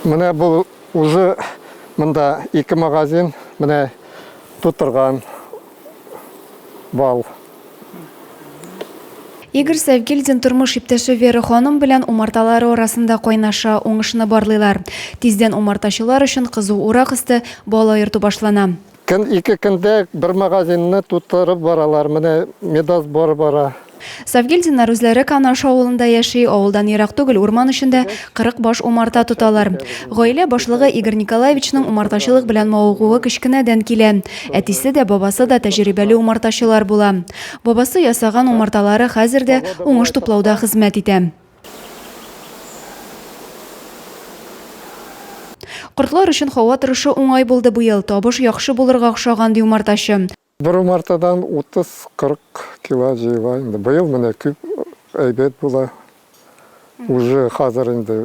Менә бу уже монда ике магазин менә тутырган бал. Игорь Сәвгильдин тормыш иптәше Вера ханым белән умарталары арасында кайнаша, уңышны барлыйлар. Тиздән умартачылар өчен кызу урак өсте бал аерту башлана. Көн ике көндә бер магазинны тутырып баралар, менә медосбор бара. Сафгильдиннар үзләре Канаш авылында яши, авылдан ерак түгел урман эчендә 40 баш умарта тоталар. Гаилә башлыгы Игорь Николаевичның умартачылык белән мавыгуы кечкенәдән килә. Әтисе дә, бабасы да тәҗрибәле умартачылар була. Бабасы ясаган умарталары хәзер дә уңыш туплауда хезмәт итә. Кортлар өчен һава торышы уңай булды бу ел, табыш яхшы булырга охшаган, ди умартачы. Бер умартадан 30-40 кило җыела инде. Быел менә күп, әйбәт була. Уже хәзер инде.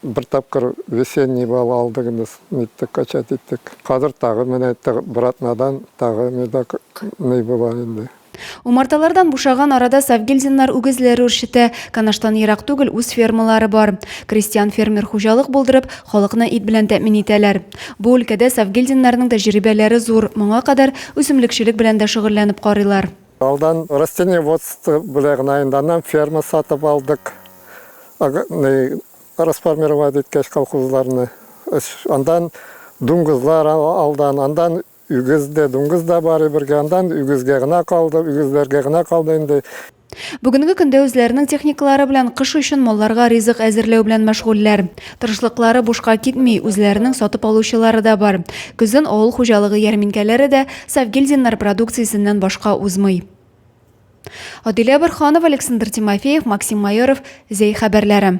Бер тапкыр весенний бал алдык инде, ниттек, качать иттек. Хәзер тагы менә бер атнадан тагы медок ный була инде. Умарталардан бушаган арада Савгильдиннар үгезләр үрчетә. Канаштан ерак түгел үз фермалары бар. Крестьян-фермер хуҗалык булдырып, халыкны ит белән тәэмин итәләр. Бу өлкәдә Савгильдиннарның тәҗрибәләре зур, моңа кадәр үсемлекчелек белән дә шөгыльләнеп карыйлар. Алдан растениеводство белән генә инде, аннан ферма сатып алдык. Расформировать иткәч колхозларны, андан дуңгызлар алдан, андан үгез дә, дуңгыз да бар бергә, андан үгезгә генә калды, үгезләргә генә калды инде. Бүгенге көндә үзләренең техникалары белән кыш өчен малларга ризык әзерләү белән мәшгульләр. Тырышлыклары бушка китми, үзләренең сатып алучылары да бар. Көзен авыл хуҗалыгы ярминкәләре дә, Сәвгильдиннар продукциясеннән башка узмый. Адилә Борһанова, Александр Тимофеев, Максим Майоров, Зәй хәбәрләре.